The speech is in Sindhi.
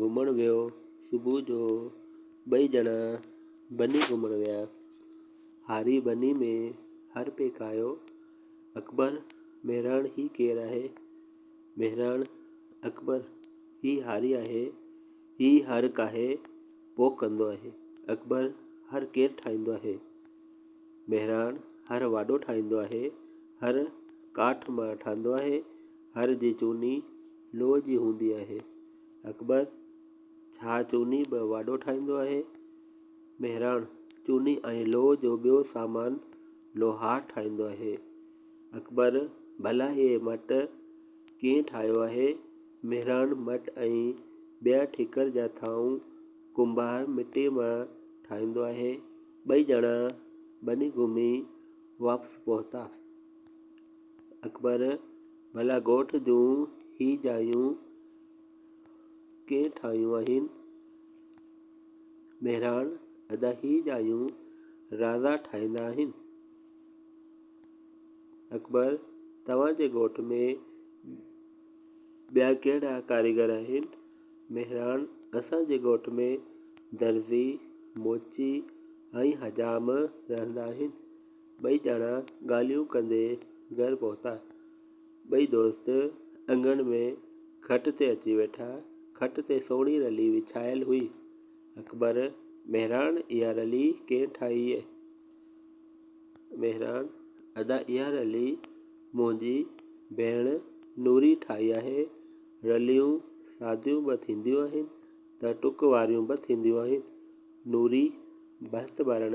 گهمڻ ويو صبح جو ٻئي ڄڻا ٻني گهمڻ ويا هاري ٻني ۾ هر پيڪايو اڪبر مهراڻ هي ڪير آهي مهراڻ اڪبر هي هاري آهي هي هر ڪاهي پوء ڪندو آهي اڪبر هر ڪير ٺاهيندو آهي مهراڻ هر واڍو ٺاهيندو آهي هر ڪاٺ ماڻ ٺاهيندو آهي هر جي چوني لوء جي هوندي آهي. اڪبر، ڇا چوني به واڍو ٺاهيندو آهي؟ مهراڻ، چوني ۽ لوء جو ٻيو سامان لوهار ٺاهيندو آهي. اڪبر، ڀلا هيء مٽ ڪيئن ٺاهيو آهي؟ مهراڻ، مٽ ۽ ٻيا ٺڪر جا ٿانء ڪنڀار مٽيء مان ٺاهيندو آهي. ٻئي ڄڻا ٻني گهمي واپس پهتا. اڪبر، ڀلا ڳوٺ جون هي جايون ڪنهن ٺاهيون آهن؟ مهراڻ، ادا هي جايون رازا ٺاهيندا آهن. اڪبر، توهان جي ڳوٺ ۾ ٻيا ڪهڙا ڪاريگر آهن؟ مهراڻ، اسان جي ڳوٺ ۾ درزي، موچي ۽ حجام رهندا آهن. ٻئي ڄڻا ڳالهيون ڪندي گهر پهتا. ٻئي دوست اڱڻ ۾ کٽ تي اچي ويٺا. کٽ تي سهڻي رلي وڇايل هئي. اڪبر، مهراڻ اها رلي ڪنهن ٺاهي؟ مهراڻ، ادا اها رلي منهنجي ڀيڻ نوري ٺاهي آهي. رليون ساديون به ٿينديون آهن ته ٽڪ واريون به ٿينديون آهن. نوري ڀرت ڀرڻ